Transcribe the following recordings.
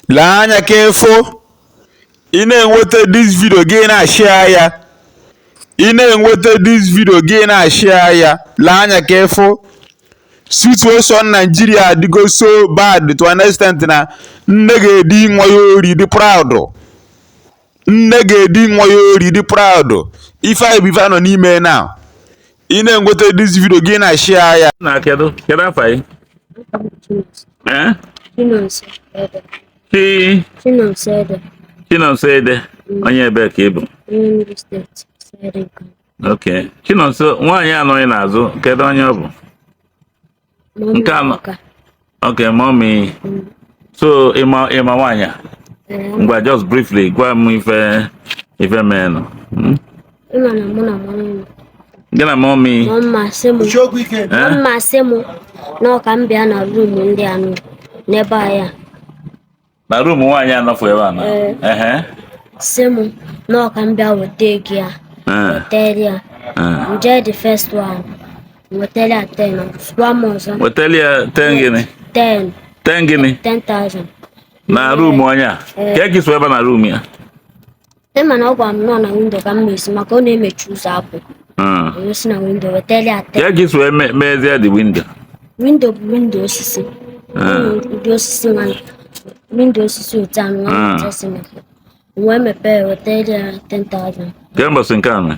lee anya ka ị fụ ị na-enweta this video gị na-ashare ya ị na-enweta this video gị na-ashare ya lee anya ka ị fụ situation Nigeria adịgo so bad to an extent na nne ga-edi nwa ya ori dị proud nne ga-edi nwa ya ori dị proud ife anyị bụ ife a nọ n'ime na ị na-enweta this video gị na-ashare ya na kedu kedu afa gị eh Chi Chinonso Ede mm. onye ebe ka ị bụ ok Chinonso nwaanyị a nọ gị n'azụ kedu onye ọ bụ nke a ma okay mommy so ị ma ị ma nwaanyị a ngwa just briefly gwa m ife ife meenụ hmm? gị na mommy mma sị m mma sị m na ọ ka m bịa na room ndị a nọ n'ebe a ya na room nwaanyị a nọfụ ebe a na Ee. ehe sị m na ọ ka m bịa weta ego ya ee wetara ya ee nje the first one wetara ya ten sụwa m ọzọ wetara ya ten gịnị ten ten gịnị ten thousand na room onye a kee ka i si wee baa na room ya Ị ma na ọ gwara m na ọ na window ka m na-esi maka ọ na-emechi ụzọ apụ Mm. wee si na window wetara ya ten Ka i si wee me- mezie the window. window bụ window osisi Mm. ụdị osisi ma window osisi otu a nwa Mm. otu esi mepe wee mepee wetara ya 10,000 Kee mbọsị nke a mee.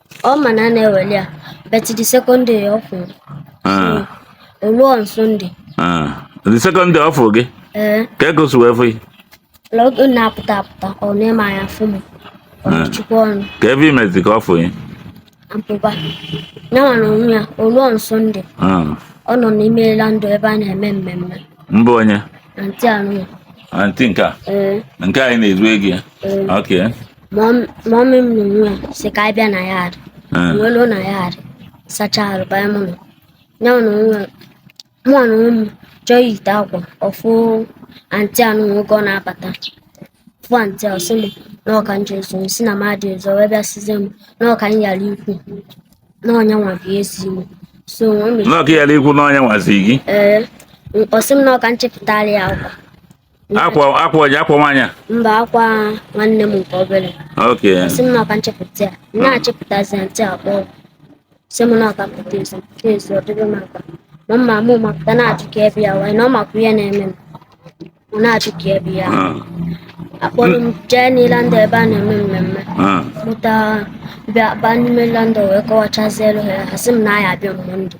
ọ ma na a na-eweli ya but the second day ọ fụrụ Ah, o ruo on Sunday ah. the second day ọ fụrụ gị ee kee ka o si wee fụ gị la oge m na-apụta apụta ọ na-eme anya fụ m ọ na-echukwa ọnụ kee ife i mezi ka ọ fụ gị apụba ya nwa na onwe ya o ruo on Sunday Ah, ọ nọ n'ime landa ebe a na-eme mmemme mbụ onye na antị anụ ya antị nke a ee nke anyị na-ezu ego ya ee ok mọmị m na onwe ya sị ka anyị bịa na yard Eh, wee luo na yard sacha arụ banye m ụlọ ya na onwe ya mụ na onwe m chọọ iyite akwa ọ fụ antị a na nwoke ọ na-abata fụ antị a ọ sị m na ọ ka nje ezo m sị na m adị ezo wee bịa sịzie m na ọ ka m yara ikwu na ọ nya nwa bụ ezi m so o mechiri na ọ ka ị yara ikwu na ọ nya nwa zi gị ee ọ sị m na ọ ka nchịpụtara ya akwa akwa akwa onye akwa nwaanyị a mba akwa nwanne m nke obere okay sị m na ọ ka nchịpụta ya na-achịpụtazi antị akpọ sị m na ọ ka pụta ezi pụta ezi ọ dịrị m akpa ma mma mụ mapụta na-achụ ka ebe ya wee na ọ makwa ihe na-eme m ọ na-achụ ka ebe ya ah. a kpọrọ m jee na landa ebe a na-eme mmemme ah. pụta bịa baa n'ime landa wee kọwachazielu ha ha sị m na ya abịa Monday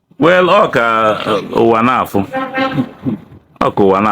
well ọ ka ụwa na-afụ ọ ka ụwa na